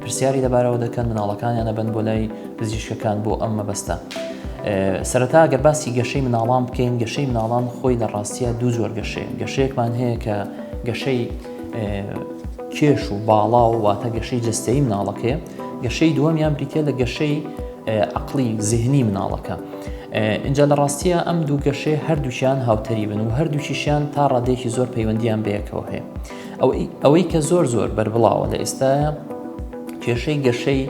پرسیاری لەبارەوە دەکەن مناڵەکانیان ئەبەن بۆ لای پزیشکەکان بۆ ئەم مەبەستە سەرەتا گەر باسی گەشەی مناڵان بکەین گەشەی مناڵان خۆی لە ڕاستیە دوو جۆر گەشەیە گەشەیەکمان هەیە کە گەشەی کێش و باڵا و واتە گەشەی جستەی مناڵەکەی گەشەی دووەمیان بریتە لە گەشەی عقلی زیهنی مناڵەکە اینجا لە ڕاستیە ئەم دوو گەشەی هەردووشیان هاوتەریبن و هەردووشیشیان تا ڕادێکی زۆر پەیوەندیان بەیەکەوە هەیە ئەوەی کە زۆر زۆر بەربڵاوە لە ئێستاە کێشەی گەشەی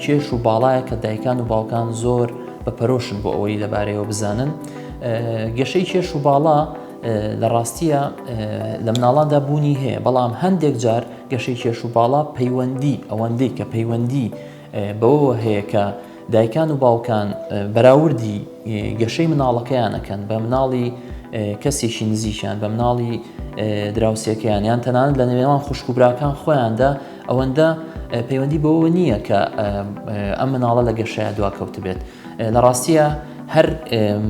کێش و باڵایە کە دایکان و باوکان زۆر بە پەرۆشن بۆ ئەوەی لەبارەیەوە بزانن گەشەی کێش و باڵا لە ڕاستیە لە مناڵاندا بوونی هەیە بەڵام هەندێک جار گەشەی کێش و باڵا پەیوەندی ئەوەندەی کە پەیوەندی بەوەوە هەیە کە دایکان و باوکان بەراوردی گەشەی مناڵەکەیان ئەکەن بە مناڵی کەسێکی نزیکیان بە مناڵی دراوسێکەیان یان تەنانەت لە نێوێوان خوشک و براکان خۆیاندا ئەوەندە پەیوەندی بەوە نییە کە ئەم مناڵە لە گەشەیە دواکەوت بێت لە ڕاستییا هەر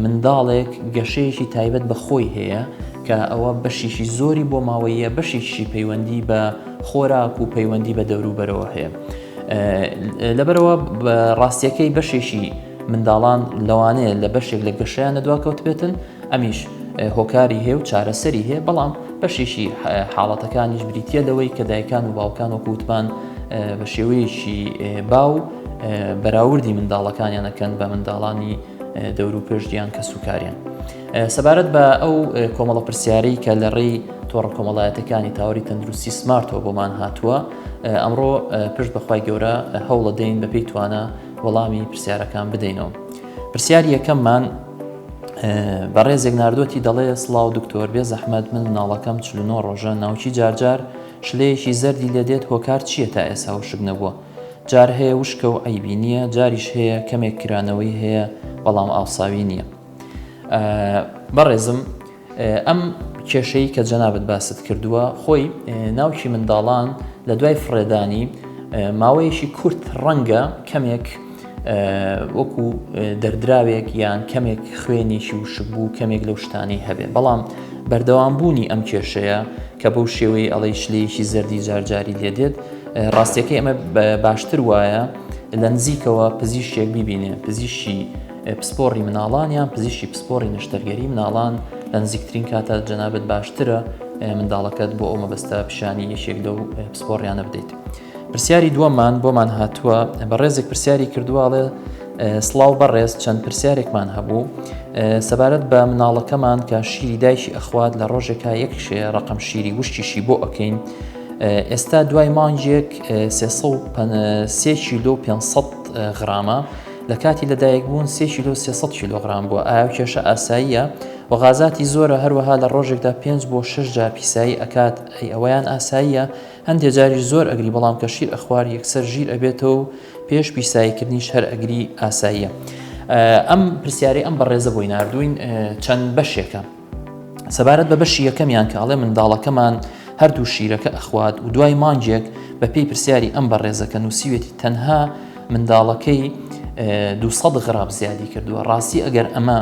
منداڵێک گەشەیەکی تایبەت بە خۆی هەیە کە ئەوە بەشیکی زۆری بۆ ماوەییە بەشیکشی پەیوەندی بە خۆراک و پەیوەندی بە دەوروبەرەوە هەیە لەبەرەوە ڕاستیەکەی بەشێکی منداڵان لەوانەیە لە بەشێک لە گەشیان لە دواکەوتبێتن ئەمیش هۆکاری هەیە و چارەسەری هەیە بەڵام بەشیشی حاڵەتەکانیش بریتە لەوەی کە دایکان و باوکان و کووتمان بە شێوەیەکی باو بەراوردی منداڵەکانیانەکەن بە منداڵانی دەور و پێشدیان کە سوکاریان سەبارەت بە ئەو کۆمەڵە پرسیارەی کە لە ڕێی تۆڕە کۆمەڵایەتەکانی تاوەری تەندروستی سمارتەوە بۆمان هاتووە ئەمڕۆ پشت بەخوای گەورە هەوڵە دەین بەپی توانە وەڵامی پرسیارەکان بدەینەوە پرسیار یەکەممان بەڕێزێک ناردۆتی دەڵێ سلااو دکتۆر بێ زەحمەت من مناڵەکەم چلنۆ ڕۆژە ناوچی جارجار شلەیەکی زەردی لێ دێت هۆکار چییە تا ئێسا و شک نەبووە جار هەیە وشکە و عیبی نییە جاریش هەیە کەمێک کرانەوەی هەیە بەڵام ئاوساوی نییە بەڕێزم ئەم کێشەی کە جەنابت باست کردووە خۆی ناوکی منداڵان لە دوای فڕێدانی ماوەیەکی کورت ڕەنگە کەمێک وەکو دەردراوێک یان کەمێک خوێنێکی وشک بوو کەمێک لەو شتانەی هەبێ بەڵام بەردەوام بوونی ئەم کێشەیە کە بەو شێوەی ئەڵەی شلەیەکی زەردی جارجاری لێ دێت ڕاستەکەی ئەمە باشتر وایە لە نزیکەوە پزیشێک ببینێ پزیشی پسپۆڕی مناڵان یان پزیشکی پسپۆڕی نەشتەرگەری مناڵان لە نزیکترین کاتە جەنابەت باشترە منداڵەکەت بۆ ئەو مەبەستە پیشانی یەکێک لەو پسپۆڕیانە بدەیت پرسیاری دووەمان بۆمان هاتووە بە ڕێزێک پرسیاری کردوواڵێ سلااو بەڕێز چەند پرسیارێکمان هەبوو سەبارەت بە مناڵەکەمان کە شیری دایکی ئەخوات لە ڕۆژێکا یەک شێ ڕقم شیری وشتیشی بۆ ئەەکەین ئێستا دوای مانجێک سێ کیلو 500 غرامە لە کاتی لەدایکبوون سێ کیلۆ سێ سەد کیلۆغرام بووە، ئایا ئەو کێشە ئاساییە؟ و غازاتی زۆرە هەروەها لە ڕۆژێکدا پێنج بۆ شەش جار پیسایی ئەکات، ئەی ئەوەیان ئاساییە؟ هەندێ جاریش زۆر ئەگری بەڵام کە شیر ئەخوار یەکسەر ژیر ئەبێتەوە و پێش پیساییکردنیش هەر ئەگری ئاساییە؟ ئەم پرسیارەی ئەم بەڕێزە بۆی ناردووین چەند بەشێکە. سەبارەت بە بەشی یەکەمیان کە ئەڵێ منداڵەکەمان هەردوو شیرەکە ئەخوات و دوای مانگێک بە پێی پرسیاری ئەم بەڕێزەکە نووسیوێتی تەنها منداڵەکەی 200 غراب زیادی کردووە ڕاستی ئەگەر ئەمە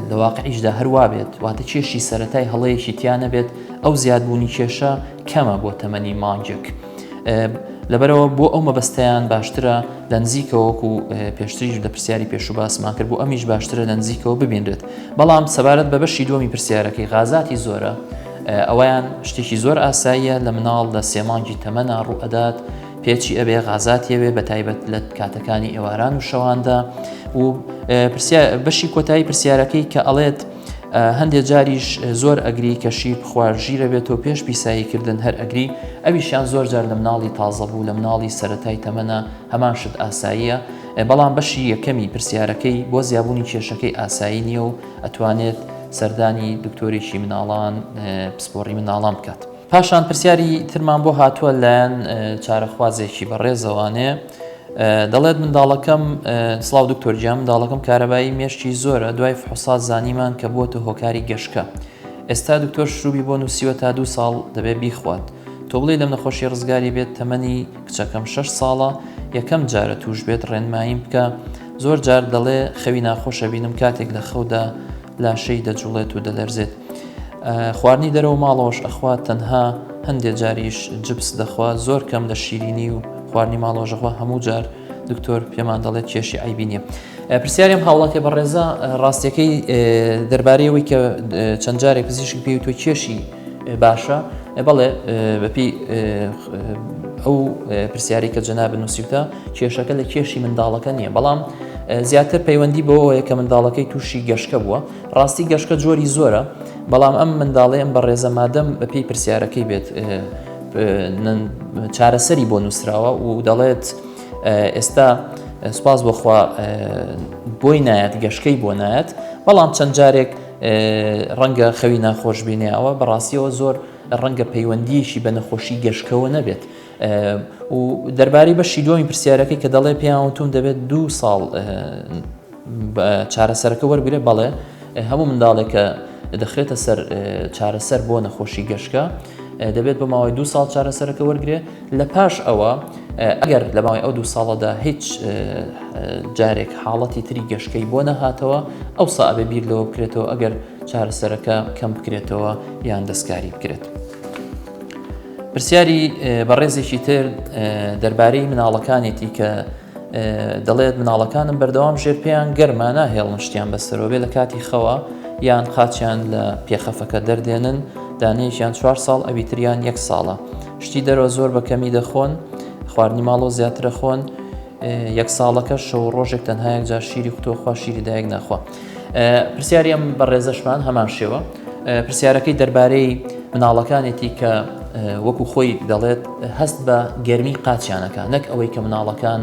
لە واقعیشدا هەروا بێت واتە کێشی سەتای هەڵەیەکی تیا نەبێت ئەو زیادبوونی کێشە کەمە بۆ تەمەنی مانگێک. لەبەرەوە بۆ ئەو مەبەستیان باشترە لە نزیکەوەک و پێشتریش لە پرسیاری پێش و باسمان کرد بۆ ئەمیش باشترە لە نزیکەوە ببینرێت بەڵام سەبارەت بە بەشی دومی پرسیارەکەی غازاتی زۆرە ئەویان شتێکی زۆر ئاساییە لە مناڵ لە سێمانگی تەمەنا ڕوئەدات پێچی ئەبێ غازاتیەوێ بە تایبەت لە کاتەکانی ئێواران و شەواندا و بەشی کۆتایی پرسیارەکەی کە ئەڵێت هەندێک جاریش زۆر ئەگری کە شیر بخوار ژیرە بێت و پێش پیسایی کردن هەر ئەگری ئەویشیان زۆر جار لە مناڵی تازە بوو لە مناڵی سەتای تەمەە هەمان شت ئاساییە بەڵام بەشی یەکەمی پرسیارەکەی بۆ زیابوونی کێشەکەی ئاسایی نییە و ئەتوانێت سەردانی دکتۆرێکی مناڵان پسپۆڕی مناڵان بکات. پاشان پرسیاری ترمان بۆ هاتووە لایەن چارەخوازێکی بەڕێزەوانێ دەڵێت منداڵەکەم سلااو دکتۆرجیا منداڵەکەم کارەبایی مێشتی زۆرە دوای فحسا زانیمان کە بووە هۆکاری گەشکە ئێستا دکتۆر شروبی بۆ نووسیوە تا دوو ساڵ دەبێت بیخوات تۆ بڵێ لەم نەخۆشی ڕزگاری بێت تەمەنی کچەکەم 6 ساڵە یەکەم جارە توش بێت ڕێنماییم بکە زۆر جار دەڵێ خەوی ناخۆشە بینم کاتێک لە خەودا لاشەی دەجوڵێت و دەلەرزێت خواردنی دەرەوە ماڵەوەش ئەخوات تەنها هەندێ جاریش جبس دەخوا زۆر کەم لە شیرینی و خواردنی ماڵۆژەخوا هەموو جار دکتۆر پێمان دەڵێت کێشی ئایبی نیە پرسیاریم هاوڵاتێ بەڕێزە ڕاستەکەی دەربارەیەوەی کە چەند جارێک پزیشک پێی تۆ کێشی باشە بەڵێ بەپی ئەو پرسیاری کە جەنا بنووسیوتە کێشەکە لە کێشی منداڵەکە نییە بەڵام زیاتر پەیوەندی بۆەوەیە کە منداڵەکەی تووشی گەشتە بووە ڕاستی گەشکە جۆری زۆرە بەڵام ئەم منداڵێ ئەم بەڕێزە مادەم بە پێی پرسیارەکەی بێت چارەسەری بۆ نووسراوە و دەڵێت ئێستا سوپاس بۆخوا بۆی نایەت گەشکەی بۆ نایەت بەڵام چەند جارێک ڕەنگە خەوی ناخۆش بینێەوە بەڕاستیەوە زۆر ڕەنگە پەیوەندیشی بە نەخۆشی گەشکەوە نەبێت و دەربارەی بەشی دومی پرسیارەکەی کە دەڵێ پێیان وتوم دەبێت دوو ساڵ چارەسەرەکە وەرگرە، بەڵێ هەموو منداڵێک کە دەخرێتە سەر چارەسەر بۆ نەخۆشی گەشکە دەبێت بە ماوەی دو ساڵ چارەسەرەکە وەرگێ لە پاش ئەوە ئەگەر لە ماوەی ئەو دو ساڵەدا هیچ جارێک حاڵەتی تری گەشکەی بۆ نەهاتەوە ئەو سابێ بیر لەوە بکرێتەوە ئەگەر چارەسەرەکە کەم بکرێتەوە یان دەستکاری بکرێت. پرسیاری بەڕێزێکی تر دەربارەی مناڵەکانێتی کە دەڵێت مناڵەکانم بەردەوام ژێر پێیان گەرما ناهێڵن شتیان بەسەرەوە بێ لە کاتی خەوە یان قاچیان لە پێخەفەکە دەردێنن دانەیەکیان چوار ساڵ ئەوی تریان یەک ساڵە شتی دەرەوە زۆر بە کەمی دەخۆن خواردنی ماڵۆ زیاترە خۆن یەک ساڵەکە شەو ڕۆژێک تەنهایەک جار شیری قوتوەخوا شیری دایک ناخوا پرسیاری ئەم بەڕێزەشمان هەمان شێوە پرسیارەکەی دەربارەی مناڵەکانێتی کە وەکو خۆی دەڵێت هەست بە گەرمی قاچیانەکە نەک ئەوەی کە مناڵەکان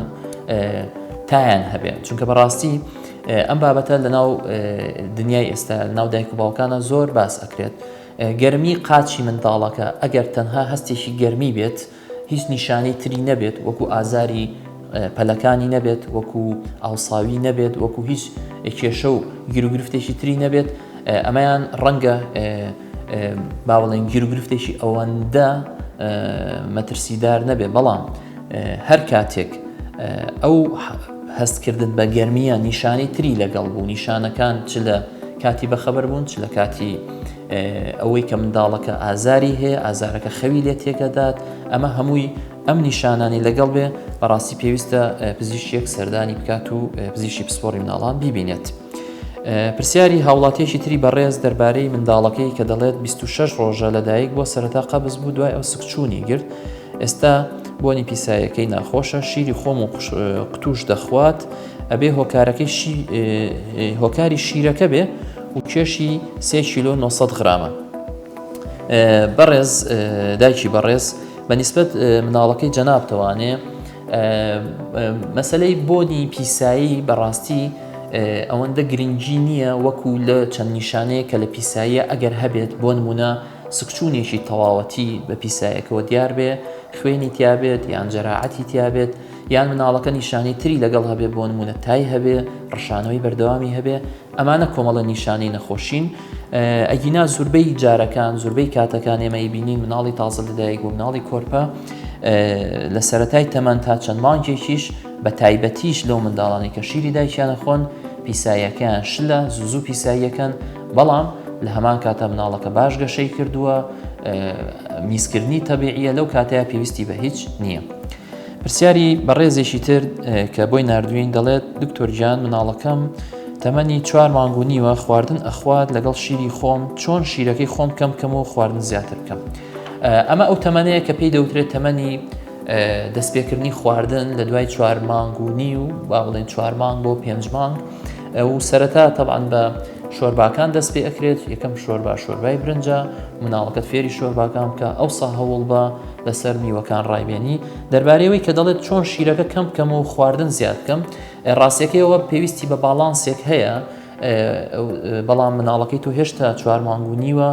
تایان هەبێت چونکە بەڕاستی ئەم بابەتە لەناو دنیای ئێستا ناو دایک و باوکانە زۆر باس ئەکرێت گەرمی قاچی منداڵەکە ئەگەر تەنها هەستێکی گەرمی بێت هیچ نیشانەی تری نەبێت وەکو ئازاری پەلەکانی نەبێت وەکو ئاوساوی نەبێت وەکو هیچ کێشە و گیرروگرفتێکی تری نەبێت ئەمەیان ڕەنگە باوەڵێن گیرروگرفتێکی ئەوەندە مەترسیدار نەبێ بەڵام هەر کاتێک ئەو هەستکردن بە گەرمیە نیشانی تری لەگەڵ بوو نیشانەکان چ لە کاتی بەخەبەر بوون چ لە کاتی ئەوەی کە منداڵەکە ئازاری هەیە ئازارەکە خەوی لێ تێکەدات ئەمە هەمووی ئەم نیشانانی لەگەڵ بێ بەڕاستی پێویستە پزیشکێک سەردانی بکات و پزیشی پسپۆری مناڵان بیبینێت. پرسیاری هاوڵاتیەکی تری بەڕێز دەربارەی منداڵەکەی کە دەڵێت 26 ڕۆژە لەدایک بۆ سەرەتا قەبز بوو دوای ئەو سکچوونی گرت ئێستا بۆنی پیسایەکەی ناخۆشە شیری خۆم و قوتوش دەخوات ئەبێ هۆکارەکەی شی هۆکاری شیرەکە بێ و کێشی سێ کیلۆ 900 غرامە بەڕێز دایکی بەڕێز بە نسبت مناڵەکەی جەنابتەوانێ مەسلەی بۆنی پیسایی بەڕاستی ئەوەندە گرنگی نییە وەکو لە چەند نیشانەیە کە لە پیساییە ئەگەر هەبێت بۆ نمونە سکچوونێکی تەواوەتی بە پیسایەکەوە دیار بێ خوێنی تیاابێت یان جەراعەتی تیاابێت یان مناڵەکە نیشانەی تری لەگەڵ هەبێ بۆ نمونە تای هەبێ ڕشانەوەی بەردەوامی هەبێ ئەمانە کۆمەڵە نیشانەی نەخۆشین ئەگینا زوربەی جارەکان زوربەی کاتەکان ئێمەی بینین مناڵی تازە لەدایک و مناڵی کۆرپە لە سەتای تەمان تا چەند مانکێکیش بە تایبەتیش لەو منداڵانی کە شیری دایکیانە خۆن پیساییەکەیان شلە زوزو پیساییەکەن بەڵام لە هەمان کاتە مناڵەکە باش گەشەی کردووە میزکردنی تەبیعە لەو کاتەیە پێویستی بە هیچ نییە. پرسیاری بەڕێزێکی تر کە بۆی ناردوین دەڵێت دکتۆر گیان مناڵەکەم تەمەنی چوار مانگ و نیوە خواردن ئەخوات لەگەڵ شیری خۆم چۆن شیرەکەی خۆم کەم کەم و خواردن زیاتر بکەم ئەمە ئەو تەمەەیە کە پێی دەوترێت تەمەنی دەستپێکردنی خواردن لە دوای چوار مانگ و نی و با بڵێن چوار مانگ بۆ پێنج مانگ و سەرەتا تەبان بە شۆرباکان دەست پێ ئەکرێت یەکەم شۆربا شۆربای برنجە مناڵەکەت فێری شۆرباکان بکە ئەو سا هەوڵ بە لەسەر میوەکان ڕایبێنی دەربارەی ئەوەی کە دەڵێت چۆن شیرەکە کەم بکەم و خواردن زیاد بکەم ڕاستەکەیەوە پێویستی بە باڵانسێک هەیە بەڵام مناڵەکەی تۆ هێشتا چوار مانگونیوە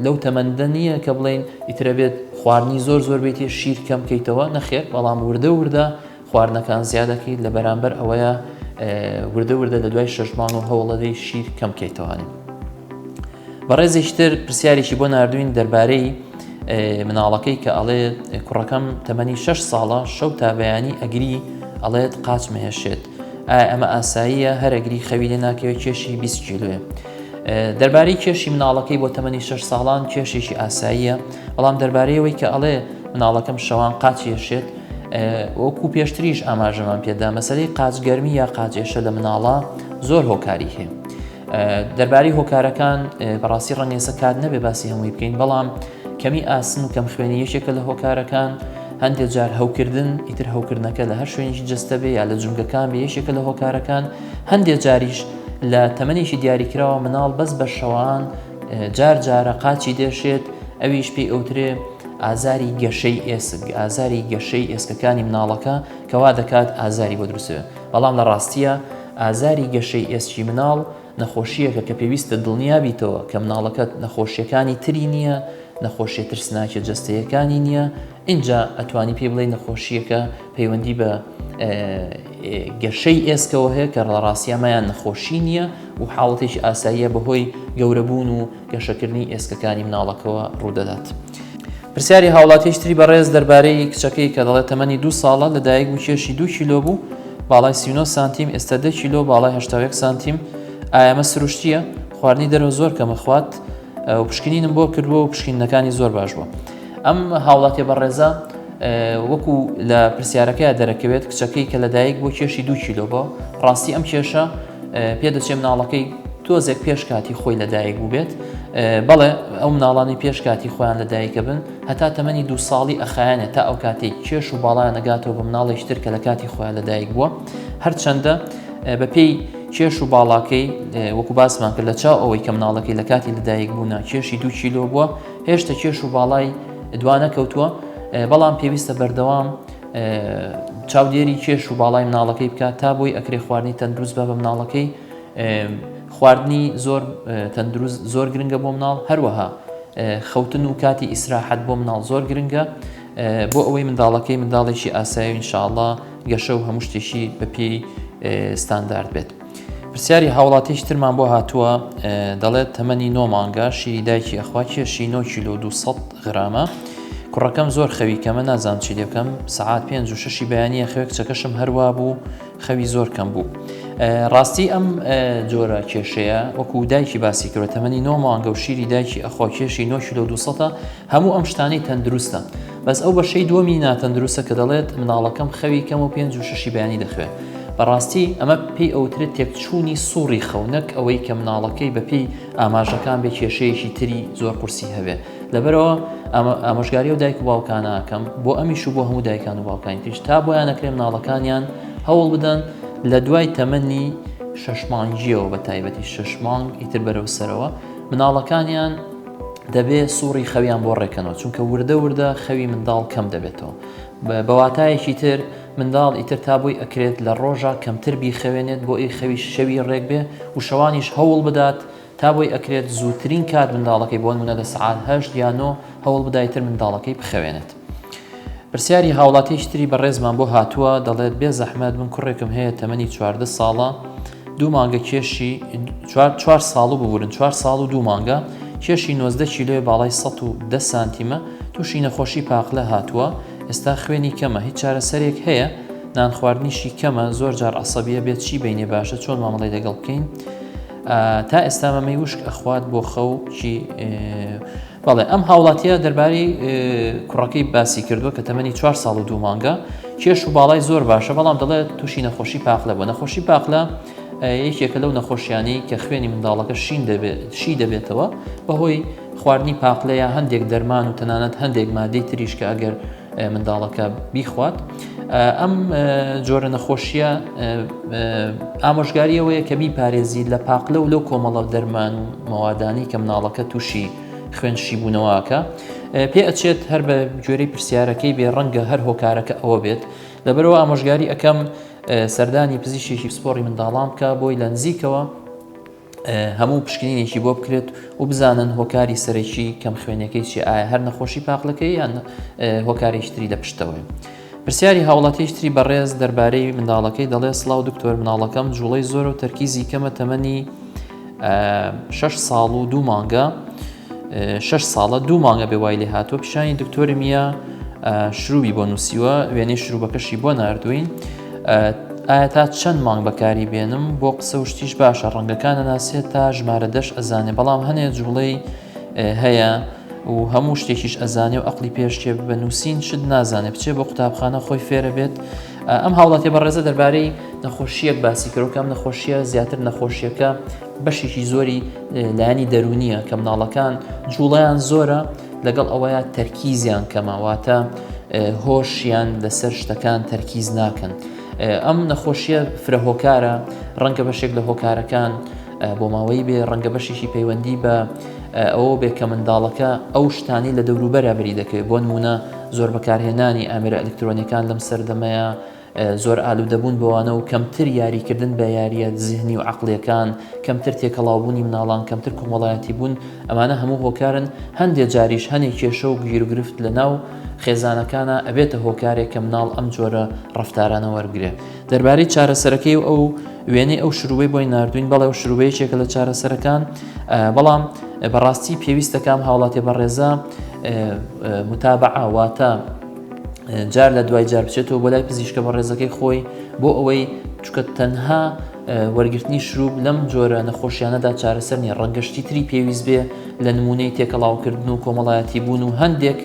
لەو تەمەندە نییە کە بڵین ئیترە بێت خواردنی زۆر زۆر بێتی شیر کەم بکەیتەوە نەخێت بەڵام وردە وردە خواردنەکان زیادەکەیت لە بەرامبەر ئەوەیە وردە وردە لە دوای شش مانگ و هەوڵەدەی شیر کەم کەیتەوانین بەڕێزیشتر پرسیارێکی بۆ نردوین دەربارەی مناڵەکەی کە ئەڵێ کوڕەکەم تەمەنی 6 ساڵە شەو تا بەیانی ئەگری ئەڵێت قاچ مەهێشێت ئایا ئەمە ئاساییە هەرەگری خەوی لێ ناکەوێت کێشی 20 کیلوێ دەربارەی کێشی مناڵەکەی بۆ تەمەنی 6 ساڵان کێشێکی ئاساییە بەڵام دەربارەیەوەی کە ئەڵێ مناڵەکەم شەوان قاچێشێت وەکو پێشتریش ئاماژەمان پێدا مەسلەی قاچ گەرمی یا قاچێشە لە مناڵە زۆر هۆکاری هەیە دەرباری هۆکارەکان بەڕاستی ڕەنگێسە کات نەبێ باسی هەمووی بکەین بەڵام کەمی ئاسن و کەم خوێنی یەکێکە لە هۆکارەکان هەندێک جار هەوکردن ئیتر هەوکردنەکە لە هەر شوێنیشی جستە بێ یا لە جونگەکان بە یەکێکە لە هۆکارەکان هەندێک جاریش لە تەمەێکی دیاریکراوە مناڵ بەس بە شەوان جار جارە قاچی دێشێت، ئەویش پێی ئەوترێ ئازاری گەشەی ئێسک، ئازاری گەشەی ئێسکەکانی مناڵەکە کە وا دەکات ئازاری بۆ دروست بێت، بەڵام لە ڕاستییە ئازاری گەشەی ئێسکی مناڵ نەخۆشییەکە کە پێویستە دڵنیا بیتەوە کە مناڵەکەت نەخۆشییەکانی تری نییە، نەخۆشییە ترسناکە جەستەیەکانی نییە، ئینجا ئەتوانی پێی بڵێی نەخۆشییەکە پەیوەندی بە گەشەی ئێسکەوە هەیە کە ڕاڕاستیامایان نەخۆشی نییە و حاڵەتێکی ئاساییە بەهۆی گەورەبوون و گەشەکردنی ئێسکەکانی مناڵەکەەوە ڕوودەدات. پرسیاری هاوڵاتیشتری بەڕێز دەربارەی کچەکەی کە دەڵێت تەمەنی دو ساڵە لە دایک بوو کێشی دو کیلۆ بوو باڵای سینۆ سانتیم ئێستا دە کیلۆ باڵای هەشتاوێک سانتیم ئایەمە سروشتیە خواردنی دەرەوە زۆر کەمە خوات و پشکنینم بۆ کردووە و پشکینەکانی زۆر باش بووە. ئەم هاوڵاتێ بەڕێزە وەکو لە پرسیارەکەی دەرەکەوێت کچەکەی کە لەدایک بۆ کێشی دوو کیلۆ بۆ ڕاستی ئەم کێشە پێ دەچێ مناڵەکەی تۆزێک پێش کاتی خۆی لەدایک بووبێت بەڵێ ئەو مناڵانی پێش کاتی خۆیان لە دایکە بن هەتا تەمەنی دو ساڵی ئەخایانە تا ئەو کاتێک کێش و باڵیان نەگاتەوە بە مناڵێشتر کە لە کاتی خۆیان لە دایک بووە هەرچەندە بەپێی کێش و باڵاکەی وەکو باسمان کرد لە چاو ئەوەی کە مناڵەکەی لە کاتی لەدایک بوونا کێشی دوو کیلۆ بووە هێشتە کێش و باڵای دوانە کەوتووە بەڵام پێویستە بەردەوام چاودێری کێش و باڵای مناڵەکەی بکات تا بۆی ئەکرێ خواردنی تەندروست بە بە مناڵەکەی خواردنی زۆر تەندروست زۆر گرنگە بۆ مناڵ هەروەها خەوتن و کاتی ئیسراحەت بۆ مناڵ زۆر گرنگە بۆ ئەوەی منداڵەکەی منداڵێکی ئاسایی انشاءله گەشە و هەموو شتێکی بەپی ستاندارد بێت. پرسیاری هاوڵاتیش ترمان بۆ هاتووە دەڵێت تەمەنی نۆ مانگە شیری دایکی ئەخوا کێشی 9 کیلو 200 غرامە کوڕەکەم زۆر خەوی کەمە نازان چی دەکەم سعات 5 و ششی بەیانە خەوێک چەکەشم هەروا بوو خەوی زۆر کەم بوو ڕاستی ئەم جۆرە کێشەیە وەکو دایکی باسی کرد تەمەنی نۆ مانگە و شیری دایکی ئەخوا کێشی 9 کیلو 200 هەموو ئەم شتانی تەندروستە بەس ئەو بەشەی دووەمی ناتەندروستە کە دەڵێت مناڵەکەم خەوی کەم و پێنج و شەشی بەیانی دەخوێن بەڕاستی ئەمە پێی ئەوترێت تێکچوونی سوڕی خەو نەک ئەوەی کە مناڵەکەی بەپێی ئاماژەکان بێ کێشەیەکی تری زۆر قورسی هەبێ لەبەرەوە ئامۆژگاری و دایک و باوکانەکەم بۆ ئەمیش و بۆ هەموو دایکان و باوکانی تریش تا بۆیان نەکرێن مناڵەکانیان هەوڵ بدەن لە دوای تەمەنی شەش مانگیەوە بە تایبەتی شەش مانگ ئیتر بەرەو سەرەوە مناڵەکانیان دەبێ سوڕی خەویان بۆ ڕێکەنەوە چونکە وردە وردە خەوی منداڵ کەم دەبێتەوە بەواتایەکی تر منداڵ ئیتر تا بۆی ئەکرێت لە ڕۆژە کەمتر بیخەوێنێت بۆ ئەی خەوی شەوی ڕێک بێ و شەوانیش هەوڵ بدات تا بۆی ئەکرێت زووترین کات منداڵەکەی بۆن منە لە سعات هەشت یا نۆ هەوڵ بدایتر منداڵەکەی بخەوێنێت. پرسیاری هاوڵاتیەکی تری بەڕێزمان بۆ هاتووە دەڵێت بێ زەحمەت من کوڕێکم هەیە تەمەنی چواردە ساڵە دوو مانگە کێشی چوار ساڵ و ببورن چوار ساڵ و دوو مانگە کێشی نۆزدە کیلۆی باڵای ١دە سانتیمە تووشی نەخۆشی پاقلە هاتووە ئێستا خوێنی کەمە هیچ چارەسەرێک هەیە نان خواردنیشی کەمە زۆر جار عسەبیە بێت چی بینێ باشە چۆن مامەڵی لەگەڵ بکەین تا ئێستا مەمەی وشک ئەخوات بۆ خەو چی بەڵێ، ئەم هاوڵاتییە دەربارەی کوڕەکەی باسی کردووە کە تەمەنی چوار ساڵ و دوو مانگە، کێش و باڵای زۆر باشە، بەڵام دەڵێت تووشی نەخۆشی پاقلە بووە، نەخۆشی پاقلە یەکێکە لەو نەخۆشییانەی کە خوێنی منداڵەکە شین دەبێت، شی دەبێتەوە، بەهۆی خواردنی پاقلەیە، هەندێک دەرمان و تەنانەت هەندێک ماددەی تریش کە ئەگەر. منداڵەکە بیخوات ئەم جۆرە نەخۆشیە ئامۆژگاریەوەیە کە بیپارێزی لە پاقلە و لەو کۆمەڵە دەرمان و مەوادانی کە مناڵەکە تووشی خوێن شیبوونەوەکە پێ ئەچێت هەر بە گوێرەی پرسیارەکەی بێ ڕەنگە هەر هۆکارەکە ئەوە بێت لەبەرەوە ئامۆژگاری ئەەکەم سەردانی پزیشێکی پسپۆری منداڵان بکە بۆی لە نزیکەوە هەموو پشکنینێکی بۆ بکرێت و بزانن هۆکاری سەرەکی کەم خوێنەکەی چی ئایا هەر نەخۆشی پاقلەکەی یان هۆکارێکی تری لە پشتەوەی. پرسیاری هاوڵاتیشتری بەڕێز دەربارەی منداڵەکەی دەڵێ سڵاو دکتۆر مناڵەکەم جوڵەی زۆر و تەرکیزی کەمە تەمەنی شش ساڵ و دوو مانگە شەش ساڵە دوو مانگە بێ وای لێهاتوە پیشانی دکتۆری میە شروبی بۆ نووسیوە وێنەی شروبەکەشی بۆ نردوین ئایا تا چەند مانگ بەکاری بێنم بۆ قسە و شتیش باشە ڕەنگەکان نەناسێت تا ژمارە دەش ئەزانێ بەڵام هەنێ جوڵەی هەیە و هەموو شتێکیش ئەزانێ و ئەقلی پێشتێ بە نووسین شت نازانێ بچێ بۆ قوتابخانە خۆی فێرە بێت ئەم هاوڵاتی بە ڕێزە دەربارەی نەخۆشیەک باسی کرۆکەم نەخۆشیە زیاتر نەخۆشیەکە بەشێکی زۆری لایەنی دەرونیە کە مناڵەکان جوڵیان زۆرە لەگەڵ ئەوەیە تەرکیزیان کەماواتە هۆشیان لەسەر شتەکان تەرکیز ناکەن ئەم نەخۆشیە فرە هۆکارە ڕەنگە بەشێک لە هۆکارەکان بۆ ماوەی بێ ڕەنگە بەشێکی پەیوەندی بە ئەوە بێ کە منداڵەکە ئەو شتانی لە دەوروبەرە بری دەکەوێت بۆ نمونە زۆر بەکارهێنانی ئامرە ئەلکترۆنیەکان لەم سەردەمەیە زۆر ئالوودەبوون بەوانە و کەمتر یاریکردن بە یارییە زهنی و عەقڵییەکان، کەمتر تێکەڵاوبوونی مناڵان، کەمتر کۆمەڵایەتیبوون، ئەمانە هەموو هۆکارن، هەندێ جاریش هەنێ کێشە و گیروگرفت لە ناو خێزانەکانا ئەبێتە هۆکارێک کە مناڵ ئەم جۆرە ڕەفتارانە وەربگرێ. دەربارەی چارەسەرەکەی و ئەو وێنەی ئەو شرووبەی بۆی ناردووین، بەڵێ ئەو شرووبە یەکێکە لە چارەسەرەکان، بەڵام بەڕاستی پێویستە کە ئەم هاوڵاتیە بەڕێزە متابعە واتە، جار لە دوای جار بچێتەوە بۆ لای پزیشکە بە ڕێزەکەی خۆی بۆ ئەوەی چکە تەنها وەرگرتنی شروب لەم جۆرە نەخۆشیانەدا چارەسەر نیە ڕەنگەشتی تری پێویست بێ لە نمونەی تێکەڵاوکردن و کۆمەڵایەتی بوون و هەندێک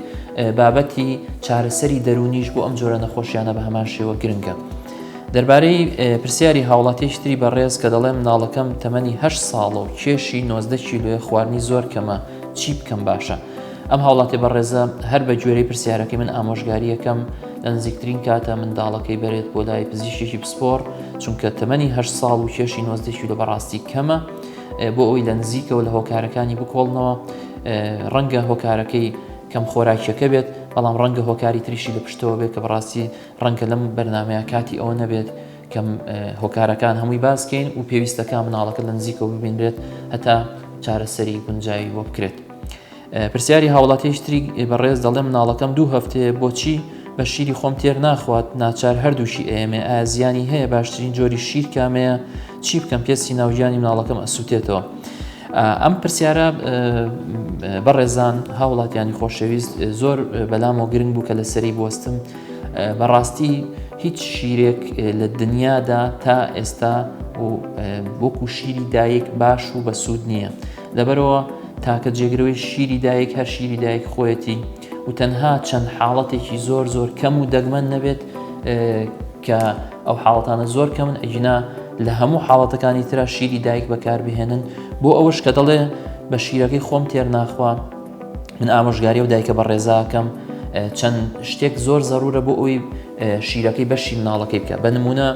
بابەتی چارەسەری دەرونیش بۆ ئەم جۆرە نەخۆشیانە بە هەمان شێوە گرنگە. دەربارەی پرسیاری هاوڵاتیشتری بەڕێز کە دەڵێ مناڵەکەم تەمەنی هە ساڵە و کێشی نۆزدە کیلوێ خواردنی زۆر کەمە چی بکەم باشە؟ ئەم هاوڵاتێ بەڕێزە هەر بە گوێرەی پرسیارەکەی من ئامۆژگاریەکەم لە نزیکترین کاتە منداڵەکەی بەرێت بۆ لای پزیشێکی پسپۆڕ چونکە تەمەنی هە ساڵ و کێشی نۆزدەکی لە بەڕاستی کەمە بۆ ئەوی لە نزیکەوە لە هۆکارەکانی بکۆڵنەوە ڕەنگە هۆکارەکەی کەم خۆراکیەکە بێت بەڵام ڕەنگە هۆکاری تریشی لە پشتەوە بێت کە بەڕاستی ڕەنگە لەم بەرنمەیە کاتی ئەوە نەبێت کەم هۆکارەکان هەمووی باسکەین و پێویستەکە مناڵەکە لە نزیکەوە ببینرێت هەتا چارەسەری گونجایی بۆ بکرێت. پرسیاری هاوڵاتیش تری بەڕێز دەڵێ مناڵەکەم دوو هەفتەیە بۆچی بە شیری خۆم تێر ناخوات ناچار هەردووشی ئەیەمێ ئازیانی هەیە باشترین جۆری شیر کامەیە چی بکەم پێستی ناوگیانی مناڵەکەم ئەسووتێتەوە. ئەم پرسیارە بەڕێزان هاوڵاتیانی خۆشەویست زۆر بەلامەوە گرنگ بوو کە لەسەری بستم بەڕاستی هیچ شیرێک لە دنیادا تا ئێستا و وەکو شیری دایک باش و بەسوود نییە. لەبەرئەوە تاکە جێگرەوەی شیری دایک هەر شیری دایک خۆیەتی و تەنها چەند حاڵەتێکی زۆر زۆر کەم و دەگمەن نەبێت کە ئەو حاڵەتانە زۆر کەمن ئەگینا لە هەموو حاڵەتەکانی ترا شیری دایک بەکاربهێنن بۆ ئەوەش کە دەڵێ بە شیرەکەی خۆم تێر ناخوا من ئامۆژگاری و دایکە بە ڕێزاکەم چەند شتێک زۆر زەرورە بۆ ئەوی شیرەکەی بەشی مناڵەکەی بکە بە نمونە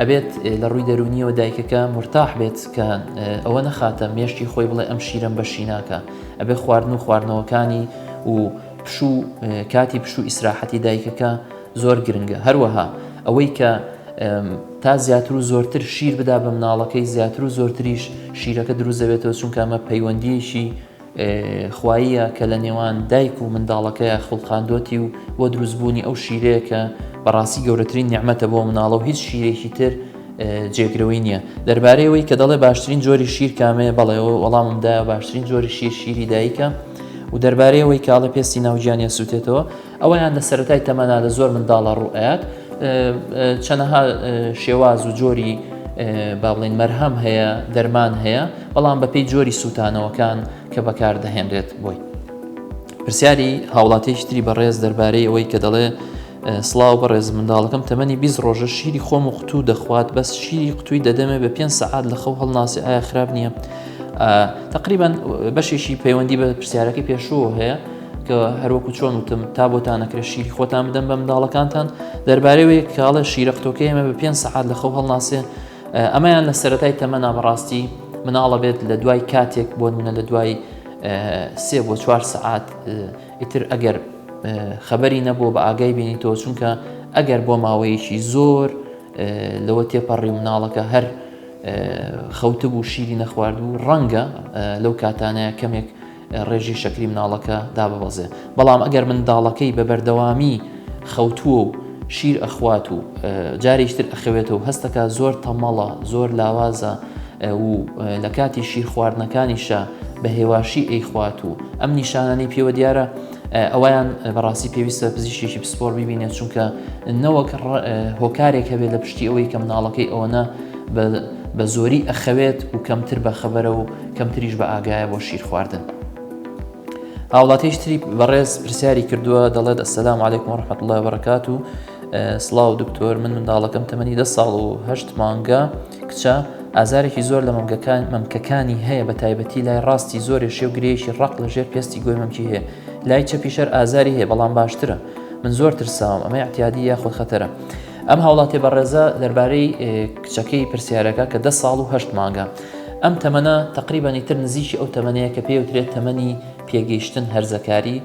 ئەبێت لە ڕووی دەرونیەوە دایکەکە مرتاح بێت کە ئەوە نەخاتە مێشتی خۆی بڵێ ئەم شیرم بەشی ناکە ئەبێ خواردن و خواردنەوەکانی و پشوو کاتی پشوو ئیسراحەتی دایکەکە زۆر گرنگە هەروەها ئەوەی کە تا زیاتر و زۆرتر شیر بدا بە مناڵەکەی زیاتر و زۆرتریش شیرەکە دروزەبێتەوە چونکە ئەمە پەیوەندیەکی خواییە کە لە نێوان دایک و منداڵەکەیا خوڵقاندۆتی و بۆ دروست بوونی ئەو شیرەیە کە بەڕاستی گەورەترین نیعمەتە بۆ مناڵە و هیچ شیرێکی تر جێگرەوەی نییە دەربارەی ئەوەی کە دەڵێ باشترین جۆری شیر کامەیە بەڵێ وەڵامم دایە باشترین جۆری شیر شیری دایکە و دەربارەی ئەوەی کاڵە پێستی ناوگیانیان سووتێتەوە ئەوەیان لە سەرەتای تەمەنا لە زۆر منداڵە ڕوو ئەیات چەنەها شێواز و جۆری با بڵین مەرهەم هەیە دەرمان هەیە بەڵام بەپی جۆری سووتانەوەکان کە بەکاردەهێنرێت بۆی پرسیاری هاوڵاتیشتری بەڕێز دەربارەی ئەوەی کە دەڵێ سلااو بەڕێز منداڵەکەم تەمەنی بیست ڕۆژە شیری خۆم و قوتو دەخوات بەس شیری قوتووی دەدەمێ بە پێ سەعات لە خەو هەڵناسی ئایا خراپ نییە تقریبان بەشێکی پەیوەندی بە پرسیارەکەی پێشوو هەیە کە هەروەکو چۆن وتم تا بۆتان نەکرێت شیری خۆتان بدەم بە منداڵەکانتان دەربارەوەی کاڵە شیرە قوتۆکەی ئەمە بە پێ سەعات لە خەو هەڵناسێ ئەمەیان لە سەتای تەمەنا بەڕاستی مناڵە بێت لە دوای کاتێک بۆ منە لە دوای سێ بۆ چوار سەعات ئیتر ئەگەر خەبەری نەبوو بە ئاگای بینی تۆ چونکە ئەگەر بۆ ماوەیەکی زۆر لەوە تێپەڕی مناڵەکە هەر خەوتبوو شیری نەخواردبوو ڕەنگە لەو کاتانەیە کەمێک ڕێژەی شەکری مناڵەکە داببەزێ بەڵام ئەگەر منداڵەکەی بە بەردەوامی خەوتووە و شیر ئەخوات و جارێکی تر ئەخەوێتەوە هەستەکە زۆر تەمەڵە زۆر لاوازە و لە کاتی شیر خواردنەکانیشە بە هێواشی ئەیخوات و ئەم نیشانانی پێوە دیارە ئەویان بەڕاستی پێویستە پزیشێکی پسپۆر ببینێت چونکە نەوەک هۆکارێک هەبێت لە پشتی ئەوەی کە مناڵەکەی ئەوەنە بە زۆری ئەخەوێت و کەمتر بەخەبەرە و کەمتریش بە ئاگایە بۆ شیر خواردن. هاوڵاتیش تری بەڕێز پرسیاری کردووە دەڵێت ئەسلام عیکم ڕحمەت الله بەڕکات و سلااو دکتۆر من منداڵەکەم تەمەنی دە ساڵ و هەشت مانگە کچە ئازارێکی زۆر لە مەمگەکان مەمکەکانی هەیە بە تایبەتی لای ڕاستی زۆرێ شێ و گرێکی ڕق لە ژێر پێستی گوێ مەمکی هەیە لای چەپیشەر ئازاری هەیە بەڵام باشترە من زۆر ترساوم ئەمە احتیادی یاخود خەتەرە ئەم هاوڵاتیە بەڕێزە دەربارەی کچەکەی پرسیارەکە کە دە ساڵ و هەشت مانگە ئەم تەمەە تقریبان ئیتر نزیکی ئەو تەمەەیە کە پێوترێت تەمەنی پێگەیشتن هەرزەکاری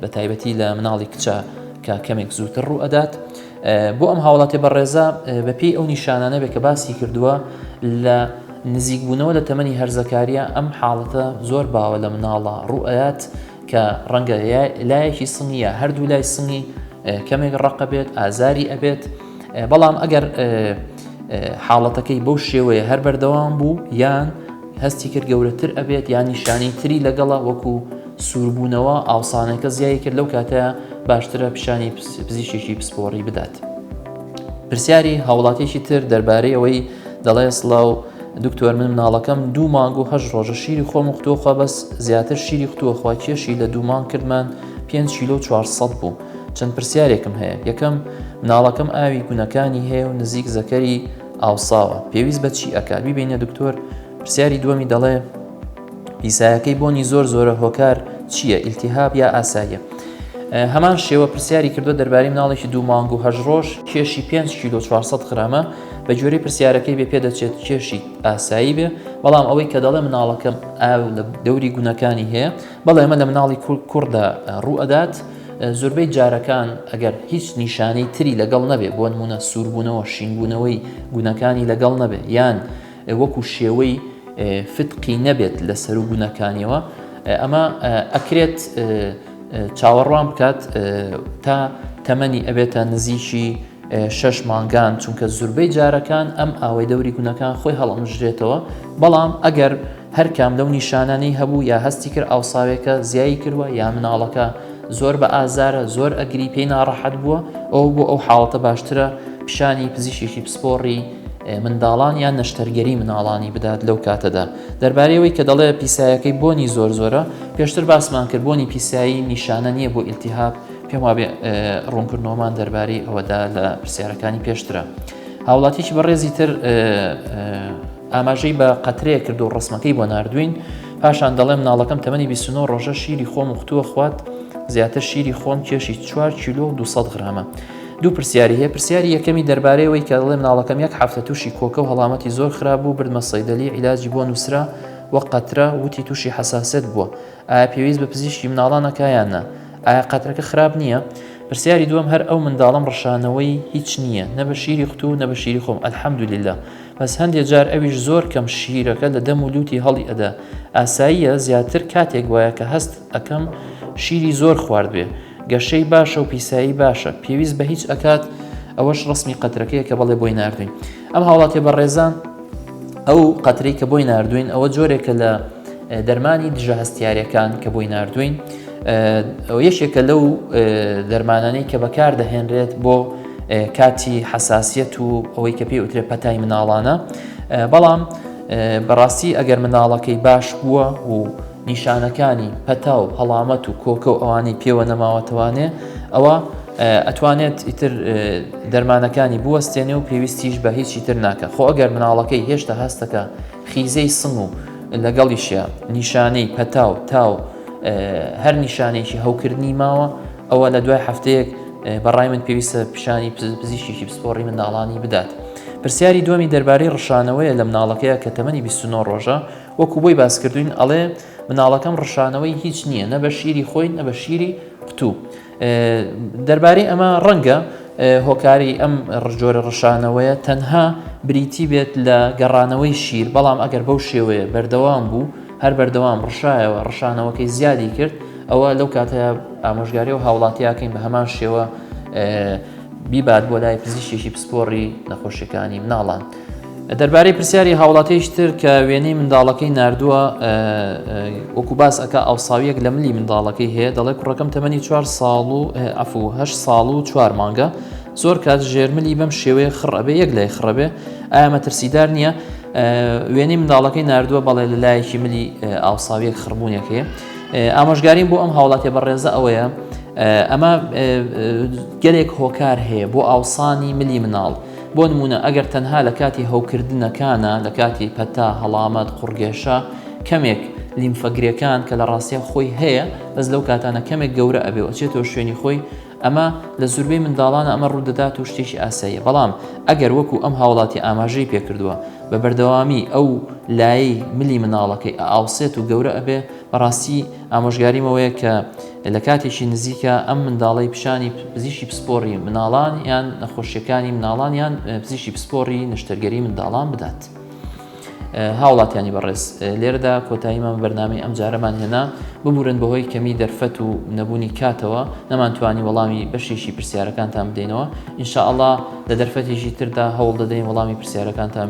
بە تایبەتی لە مناڵی کچە کە کەمێک زووتر ڕوو ئەدات بۆ ئەم هاوڵاتی بەڕێزە بەپی ئەو نیشانانە بێ کە باسی کردووە لە نزیکبوونەوە لە تەمەنی هەرزەکاریە ئەم حاڵەتە زۆر باوە لە مناڵە ڕوئات کە ڕەنگە لایەکی سنگی یا هەردوو لای سنگی کەمێک ڕقە بێت ئازاری ئەبێت بەڵام ئەگەر حاڵەتەکەی بەو شێوەیە هەر بەردەوام بوو یان هەستی کرد گەورەتر ئەبێت یان نیشانی تری لەگەڵە وەکو سووربوونەوە ئاوسانەکە زیای کرد لەو کاتە باشترە پیشانی پزیشێکی پسپۆڕی بدات. پرسیاری هاوڵاتێکی تر دەربارەی ئەوەی دەڵێ سلااو دکتۆر من مناڵەکەم دوو مانگ و هەشت ڕۆژە شیری خۆم خوتوەخوا بەس زیاتر شیری خوتوەخوا کێشی لە دوو مانگ کردمان پێنج کیلۆ و چوارسەد بوو چەند پرسیارێکم هەیە یەکەم مناڵەکەم ئاوی گونەکانی هەیە و نزیک زەکەری ئاوساوە پێویست بە چی ئەکا بیبینە دکتۆر پرسیاری دووەمی دەڵێ پیسایەکەی بۆنی زۆر زۆرە هۆکار چییە ئیلتیهاب یا ئاساییە؟ هەمان شێوە پرسیاری کردووە دەربارەی مناڵێکی دوو مانگ و هەشت ڕۆژ کێشی 5 کیلۆ 400 غرامە بە گوێرەی پرسیارەکەی بێ پێدەچێت کێشی ئاسایی بێ بەڵام ئەوەی کە دەڵێ مناڵەکەم ئاو لە دەوری گونەکانی هەیە بەڵێ ئەمە لە مناڵی کوڕدا ڕوو ئەدات زۆربەی جارەکان ئەگەر هیچ نیشانەی تری لەگەڵ نەبێ بۆ نمونە سووربوونەوە شینبوونەوەی گونەکانی لەگەڵ نەبێ یان وەکو شێوەی فتقی نەبێت لە سەر و گونەکانیەوە ئەمە ئەکرێت چاوەڕوان بکات تا تەمەنی ئەبێتە نزیکی شەش مانگان چونکە زوربەی جارەکان ئەم ئاوەی دەوری گونەکان خۆی هەڵمژرێتەوە بەڵام ئەگەر هەر کام لەو نیشانانی هەبوو یا هەستی کرد ئاوساوێکە زیایی کردوە یا مناڵەکە زۆر بە ئازارە زۆر ئەگری پێی ناڕەحەت بووە ئەو بۆ ئەو حاڵەتە باشترە پیشانی پزیشێکی پسپۆڕی منداڵان یان نەشتەرگەری مناڵانی بدات لەو کاتەدا دەربارەیەوەی کە دەڵێ پیسایەکەی بۆنی زۆر زۆرە پێشتر باسمان کرد بۆنی پیسایی نیشانە نییە بۆ ئیلتیهاب پێم وابێ ڕوونکردنەوەمان دەربارەی ئەوەدا لە پرسیارەکانی پێشترە هاوڵاتیی بەڕێزی تر ئاماژەی بە قەترەیە کرد و ڕسمەکەی بۆ نردوین پاشان دەڵێم ناڵەکەم تەمەنی 29 ڕۆژە شیری خۆم وختووە خوات زیاتر شیری خۆم کێشی 4 کیلو 200 غرامە دوو پرسیاری هەیە پرسیاری یەکەمی دەربارەی ئەوەی کە دەڵێ مناڵەکەم یەک حەفتە توشی کۆکە و هەڵامەتی زۆر خراپ بوو بردمە سەیدەلی عیلاجی بۆ نوسرا وەک قەترە وتی توشی حەساسێت بووە ئایا پێویست بە پزیشکی مناڵان ئەکا یان نا ئایا قەترەکە خراپ نییە پرسیاری دووەم هەر ئەو منداڵەم ڕشانەوەی هیچ نییە نە بە شیری قوتو نە بە شیری خۆم الحمدللە بەس هەندێ جار ئەویش زۆر کەم شیرەکە لە دەم و لوتی هەڵی ئەدا ئاساییە زیاتر کاتێک وایە کە هەست ئەکەم شیری زۆر خواردبێ گەشەی باشە و پیسایی باشە پێویست بە هیچ ئەکات ئەوەش ڕسمی قەترەکەی کە بەڵێ بۆی نردوین ئەم هاوڵاتێ بە ڕێزان ئەو قەتری کە بۆی نردوین ئەوە جۆرێکە لە دەرمانی دژە هەستیارەکان کە بۆی نردوین یەشێکە لەو دەرمانانەی کە بەکار دەهێنرێت بۆ کاتی حساسیت و ئەوەی کە پێ وترێ پەتای مناڵانە بەڵام بەڕاستی ئەگەر مناڵەکەی باش بووە و نیشانەکانی پەتا و هەڵامەت و کۆکە و ئەوانەی پێوە نەماوەتەوانێ ئەوە ئەتوانێت ئیتر دەرمانەکانی بوەستێنێ و پێویستیش بە هیچی تر ناکە خۆ ئەگەر مناڵەکەی هێشتا هەستەکە خیزەی سم و لەگەڵیشە نیشانەی پەتا و تاو هەر نیشانێکی هەوکردنی ماوە ئەوە لە دوای هەفتەیەک بەڕای من پێویستە پیشانی پزیشکی پسپۆڕی منداڵانی بدات پرسیاری دومی دەربارەی ڕشانەوەیە لە مناڵەکەیە کە تەمەنی 29 ڕۆژە وەکو بۆی باس کردوین ئەڵێ مناڵەکەم ڕشانەوەی هیچ نییە نە بە شیری خۆی نە بە شیری قوتوو دەربارەی ئەمە ڕەنگە هۆکاری ئەم ڕژۆرە ڕشانەوەیە تەنها بریتی بێت لە گەڕانەوەی شیر بەڵام ئەگەر بەو شێوەیە بەردەوام بوو هەر بەردەوام ڕشایەوە ڕشانەوەکەی زیادی کرد ئەوە لەو کاتە ئامۆژگاری و هاوڵاتیاکەین بە هەمان شێوە بیبات بۆ لای پزیشێکی پسپۆڕی نەخۆشیەکانی مناڵان. دەربارەی پرسیاری هاوڵاتیش تر کە وێنەی منداڵەکەی نردووە وەکو باس ئەک ئاوساویەک لە ملی منداڵەکەی هەیە دەڵێ کوڕەکەم تەمەنی چوار ساڵ و ئەفوه ساڵ و چوار مانگە زۆر کات ژێرملی بەم شێوەیە خڕەبێ یەک لای خڕەبێ ئامە ترسیدار نییە وێنەی منداڵەکەی نردووە بەڵێ لە لایەکی ملی ئاوساویەک خڕبوونێکەیە ئامۆژگاریم بۆ ئەم هاوڵاتێ بە ڕێزە ئەوەیە ئەمە گەلێک هۆکار هەیە بۆ ئاوسانی ملی مناڵ. بۆ نموونە ئەگەر تەنها لە کاتی هەوکردنەکانا، لە کاتی پەتا، هەڵامەت، قوڕگێشە، کەمێک لیمفەگرێکان کە لە ڕاستیا خۆی هەیە بەس لەو کاتانە کەمێک گەورە ئەبێ و ئەچێتەوە شوێنی خۆی ئەمە لە زوربەی منداڵانا ئەمە ڕوودەدات و شتێکی ئاساییە بەڵام ئەگەر وەکو ئەم هاوڵاتیە ئاماژەی پێکردووە بە بەردەوامی ئەو لایەی ملی منداڵەکەی ئەئاوسێت و گەورە ئەبێ بەڕاستی ئامۆژگاریم ئەوەیە کە لە کاتێکی نزیکە ئەم منداڵەی پیشانی پزیشی پسپۆڕی مناڵان یان نەخۆشیەکانی مناڵان یان پزیشی پسپۆڕی نشتەرگەری منداڵان بدات. هاوڵاتیانی بەڕێز لێرەدا کۆتاییمان بەرنامی ئەم جارەمان هێنا ببورن بەهۆی کەمی دەرفەت و نەبوونی کاتەوە نەمانتوانی وەڵامی بەشێکی پرسیارەکانتان بدەینەوە ئینشاءله لە دەرفەتێکی تردا هەوڵ دەدەین وەڵامی پرسیارەکانتان